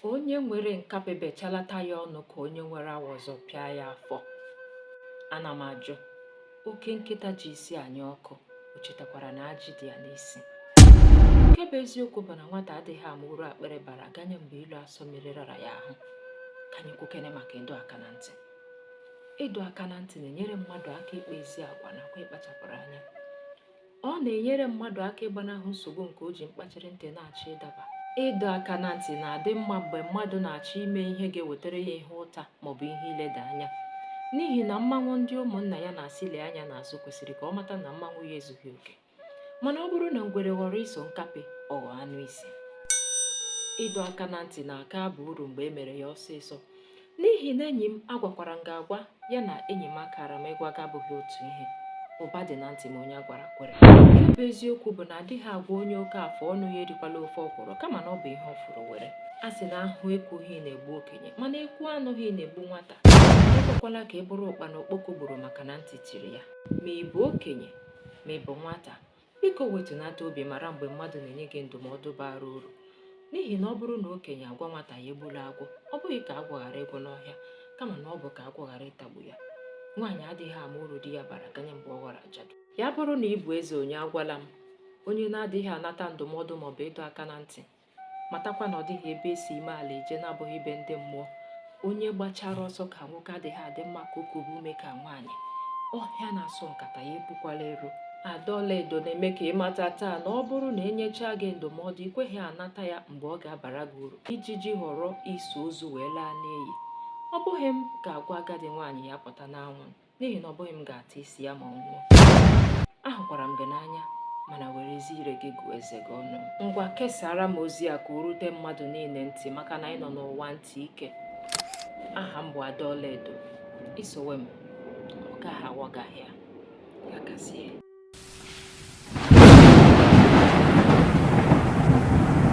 onye nwere nkapị bechalata ya ọnụ ka onye nwere awọ zọpịa ya afọ ana m ajụ oke nkịta ji isi anya ọkụ o chetakwara na ajị dị ya n'isi nke bụ eziokwu bụ na nwata adịghị ama uru akpịrị bara ganye mgbe ilo asọ mmiri rara ya ahụ ka anyị kwukene maka ịdọ aka na ntị ịdọ aka na ntị na-enyere mmadụ aka ịkpa ezi agwa nakwa ịkpachapụrụ anya Ọ na-enyere mmadụ aka ịgbanahụ nsogbu nke o ji mkpachiri ntị na-achọ ịdaba. Ịdọ aka na ntị na-adị mma mgbe mmadụ na-achọ ime ihe ga-ewetara ya ihe ụta ma ọ bụ ihe ileda anya. N'ihi na mmanwụ ndị ụmụnna ya na-asị lee anya n'azụ kwesịrị ka ọ mata na mmanwụ ya ezughị oke. Mana ọ bụrụ na ngwere ghọrọ iso nkapị, ọ ghọọ anụ isi. Ịdọ aka na ntị na-aka aba uru mgbe e mere ya ọsịsọ. N'ihi na enyi m agwakwara m gị agwa ya na enyi m akaara m ịgwa gị abụghị otu ihe. Ụba dị na ntị ma onye a gwara kwere. Nke bụ eziokwu bụ na adịghị agwa onye oke afọ ọnụ ya erikwala ofe ọkwụrụ kama na ọ bụ ihe ọ fụrụ were. A sị na ahụ ekwughị na-egbu okenye mana ekwu anụghị na-egbu nwata. Ekwekwala ka ị bụrụ ụkpana okpoko gburu maka na ntị chiri ya. Ma ị bụ okenye ma ị bụ nwata, Biko wetunata obi mara mgbe mmadụ na-enye gị ndụmọdụ bara uru n'ihi na ọ bụrụ na okenye agwa nwata ya egbula agwọ ọ bụghị ka agwọ ghara ịgwụ n'ọhịa kama na ọ bụ ka agwọ ghara ịtagbu ya nwaanyị adịghị ama uru di ya bara ganye mgbe ọ ghọrọ ajadu ya bụrụ na ị bụ eze onye agwala m onye na-adịghị anata ndụmọdụ maọbụ ịdọ aka na ntị matakwa na ọ dịghị ebe e si ime ala eje na-abụghị be ndị mmụọ onye gbachara ọsọ ka nwoke adịghị adị mma ka o kube ume ka nwaanyị ọhịa na-asọ nkata ya epukwala ero ada ọlaedo na-eme ka ị mata taa na ọ bụrụ na e nyechaa gị ndụmọdụ i kweghị anata ya mgbe ọ ga-abara gị uru ijiji họrọ iso ozu wee laa n'iyi ọ bụghị m ga-agwa agadi nwaanyị ya pụta n'anwụ n'ihi na ọ bụghị m ga-ata isi ya ma ọ nwụọ ahụkwara m gị n'anya mana werezie ire gị gụọ eze gị ọnụ ngwa kesara m ozi a ka o rute mmadụ niile ntị maka na anyị nọ n'ụwa ntị ike aha m bụ ada ọlaedo i sowe m ọ gaghị aghọ gị ahịa ya gazie